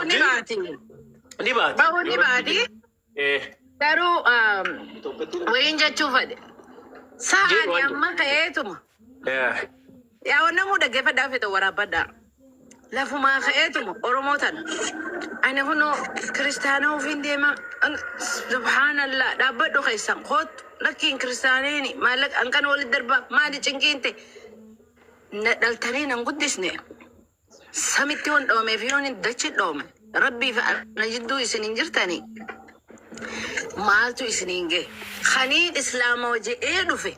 Ni baati. Ni baati. Ba'uu ni baati. Eh. Garuu um, wayiin jechuu fedhe. Sa'aani Jedhu waan amma ka'eetuma. Eh. Yaa namuu dhaggeeffadhaa fedha waraabbadhaa. Lafumaa ka'eetuma Oromoo tana. Ani kunoo kiristaana ofiin deema. Subhaanallaa dhaabbadhu keessan koottu. Lakkiin kiristaaniin maallaqa hanqan walitti darbaa maali cinqiinte. Na dhaltanii nan guddisne. Samitti yoon dhoome fi yoon dachi dhoome rabbii fi ana jidduu isin hin jirtanii maaltu isiniin gahe kaniin islaamawa jedhee dhufe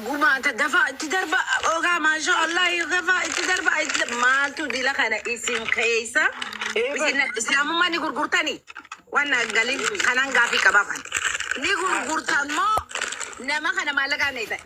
gumaata dafaa itti darba ogaa maashaa allah dafaa itti darba itti darba. maaltu dila kana isin keessa isin islaamummaa ni gurgurtanii waan na galin kanaan gaafii qabaa kan ni gurgurtan moo nama kana maallaqaan eetan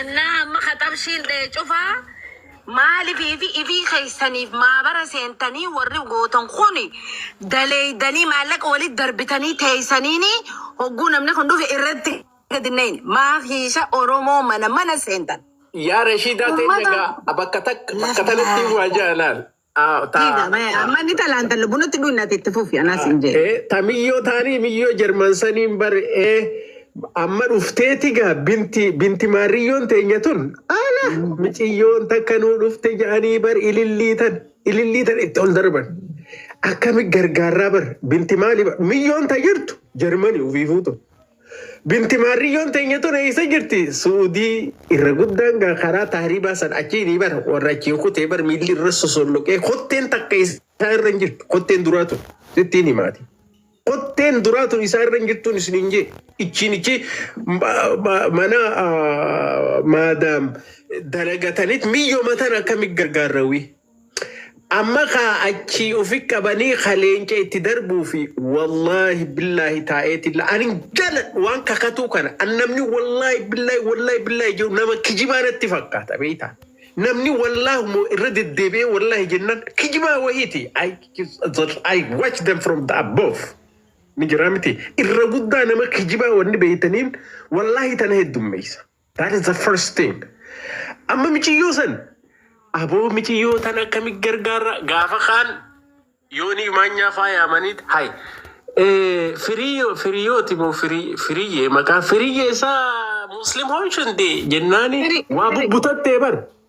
Annaa amma kaxabshiin dhee cufaa maalifi fi ifii keessaniif maabara seentanii warri gootan kun daleeydanii maallaqa walitti darbitanii teeysaniini hogguu namni kun dhufe irratti gadi nayin maaf hiisha oromoo mana mana seentan Yaa Rashiidaa teenya ummata gaa bakka takka bakka lafa tanatti waa jaalaan. Aa, ta- Dhiiga mee ta- amma ni talaan talla bunatti dhuun nati itti fufi anaa siin jee. Eh, ta miyyoo taanii miyyoo jarman saniin bar eh, amma dhufteeti gaa binti binti maarriyyoon teenya tun ala miciyyoon takka nuu dhufte jedhanii bar ilillii tan ilillii tan itti ol darban akkami gargaarraa bar binti maali bar miyyoon ta jirtu jarmani ufiifuu tun Binti maarriyyoon teenya tun eessa jirti? Suudii irra guddaan gaa karaa taaribaa san achiinii bara warra achiin kutee bar miilli irra sosolloqee kotteen takka isaa irra hin jirtu kotteen duraa tun sittiin himaati. Kotteen duraa tun isaa irra hin jirtuun isin hin jee ichiin ichi mana maadaam dalagatanit miyyoo matan akkamit gargaarrawii. Amma kaa achii ufi qabanii ka leenca itti darbuu fi wallahi billahi taa'eetilla ani hin jaaladhu waan kakatuu kana an namni wallahi billahi wallahi billahi jedhu nama kijibaa natti fakkaata beeyta namni wallahi moo irra deddeebi'ee wallahi jennan kijibaa wahiiti I, I watch them from the above ni jira miti irra guddaa nama kijibaa wanni beeytaniin wallahi tana heddummeeysa That is the first thing. Amma miciyyoo san aboo miciyyoo tan akkami gargaarra gaafa kaan yoonii maanyaa faayaamaniit hay Eh, firiyyo firiyooti moo firii firiyyee maqaa firiyyee isaa muslim hoo shundee jennaani Firi- waa firi. bubbutattee bar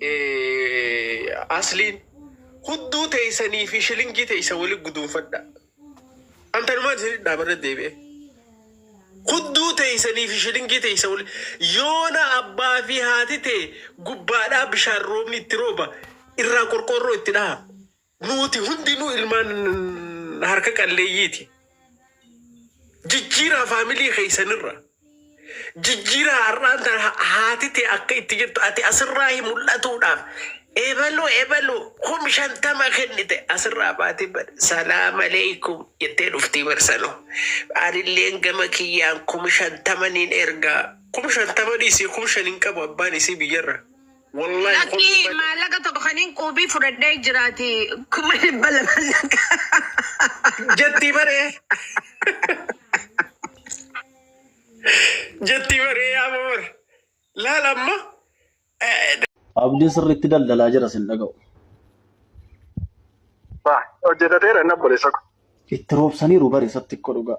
eh, asliin hudduu teeysanii fi shilingii teeysa wali guduunfadha an tanumaan isin dhaamarra deebi'e hudduu teeysanii fi shilingii teeysa wali yoona abbaa fi haati tee gubbaadhaa bishaan roobni itti rooba irraa qorqoorroo itti dhaha Nuuti hundinuu ilmaan harka qalleeyyiiti. Jijjiiraa faamilii keessanirra. Jijjiiraa har'aan tan ha- haati tee akka itti jirtu ati asirraa hin mul'atuudhaaf. Ebaluu ebaluu kum shantama kennite asirraa baatee bada. Salaam aleeykum jettee dhuftii barsanoo. Anilleen gama kiyyaan kum shantama niin ergaa. Kum shantama dhiisii kum shan hin qabu abbaan isii biyyarra. Wollahi Lakki kolfii malee. maallaqa tokko kanin quubii fudhadhee jiraati kuma dhibba lama lakka. Jettii baree. Jettii baree yaa mamar. Laal amma. eh, Abdiin sirriitti daldalaa jira sin dhaga'u. Ba, hojjetateera inni obboleessa ko. Itti roobsaniiru bare isatti xiqqoo dhugaa.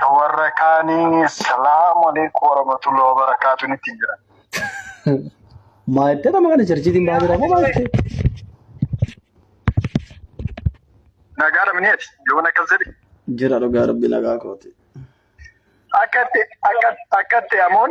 Ka warra kaanii salaamu alaikum warahmatullahi wabarakaatu nitti jira. Maayittee nama kana jarjiitiin baa jira moo maayittee? Nagaa dhabneeti yoon akkas jedhi. Jira dhugaa rabbi nagaa kooti. Akkatti akkatti amoon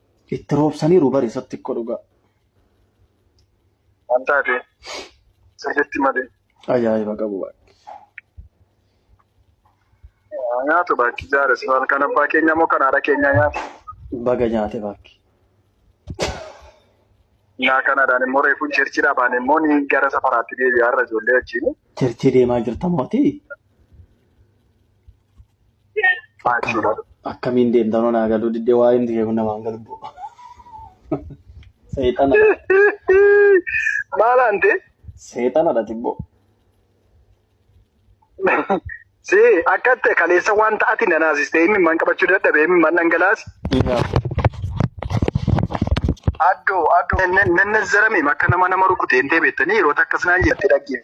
Itti roobsaniiru bari isatti xiqqoo dhugaa. Waan taate sirriitti malee. Ajaa'iba qabu baay'ee. Nyaatu baakki jaare si halkan abbaa keenya moo kan haadha keenya nyaatu. Baga nyaate baakki. Naa kanadhaan immoo reefuun cheerchii dhaabaan immoo ni gara safaraatti deebi'aa irra ijoollee wajjin. Cherchii deemaa jirta mootii. Akkamiin deemtan hoo naa galuu diddee waa himti kee kun namaan galu boo. Seexana Maal ante? seexanadha tibboo. Si akka ta'e kaleessa wanta ati na naasiste himi man qabachuu dadhabe himi man dhangalaasi. Addoo addoo nennezzarame akka nama nama rukute hin deebi'ettanii yeroo takkas naan jette dhaggeef.